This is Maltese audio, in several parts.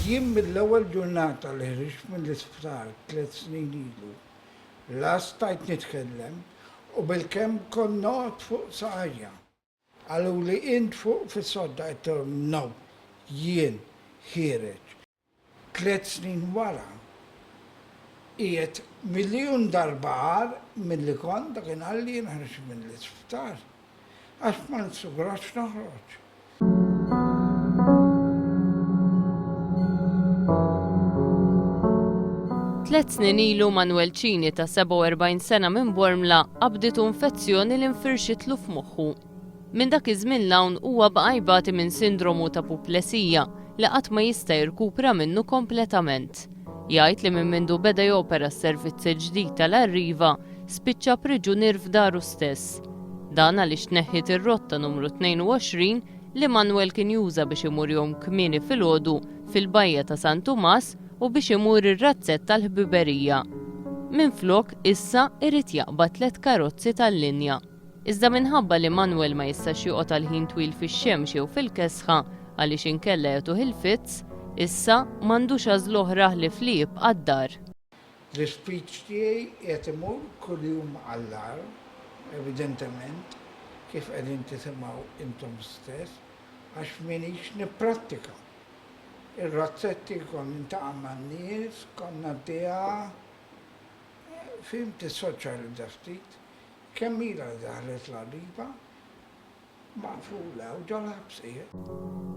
Jien mill-ewwel ġurnata li ħriġt mill-isptar tliet snin ilu, la stajt nitkellem u bilkemm kont noqgħod fuq saqajja. Qaluli int fuq fis-sodda, għidtilhom no, jien ħiereġ. Tliet snin wara, qiegħed miljun darba agħar milli kont dakinhar li jien ħriġt mill-isptar, għax ma nsugrax noħroġ. Tliet snin ilu Manwel Cini ta' 47 sena minn Bormla qabditu infezzjoni li nfirxitlu f'moħħu. Minn dak iż-żmien 'l hawn huwa baqa' jbati minn sindromu ta' puplesija li qatt ma jista' jirkupra minnu kompletament. Jgħid li minn mindu beda jopera s-servizz il-ġdid tal-Arriva, spiċċa priġunier f'daru stess. Dan għaliex tneħħiet ir-rotta numru 22 li Manwel kien juża biex imur jgħum kmieni filgħodu fil-bajja ta' San Tumas u biex imur ir-razzett tal-ħbiberija. Minflok, issa irid jaqbad tliet karozzi tal-linja. Iżda minħabba li Manwel ma jistax joqgħod għal ħin twil fix-xemx jew fil-kesħa għaliex inkella jagħtuh il-fits, issa m'għandux għażla oħra ħlief li jibqa' d-dar. L-ispeech tiegħi qiegħed imur kuljum għall-agħar, evidentement, kif qegħdin tisimgħu intom stess, għax m'iniex nipprattika. Ir-razzetti kont nintaqa' man-nies, kont ngħaddiha, fhimt tissoċjalizza ftit, Kemm ilha li daħlet l-għadiba maqfula u ġol-ħabs qiegħed.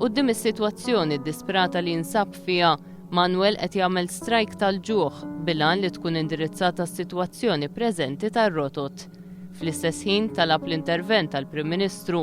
Quddiem is-sitwazzjoni ddisprata li jinsab fiha, Manuel qed jagħmel strajk tal-ġuħ bil-għan li tkun indirizzata s-sitwazzjoni preżenti tar-rotot. Fl-istess ħin talab l-intervent tal-Prim Ministru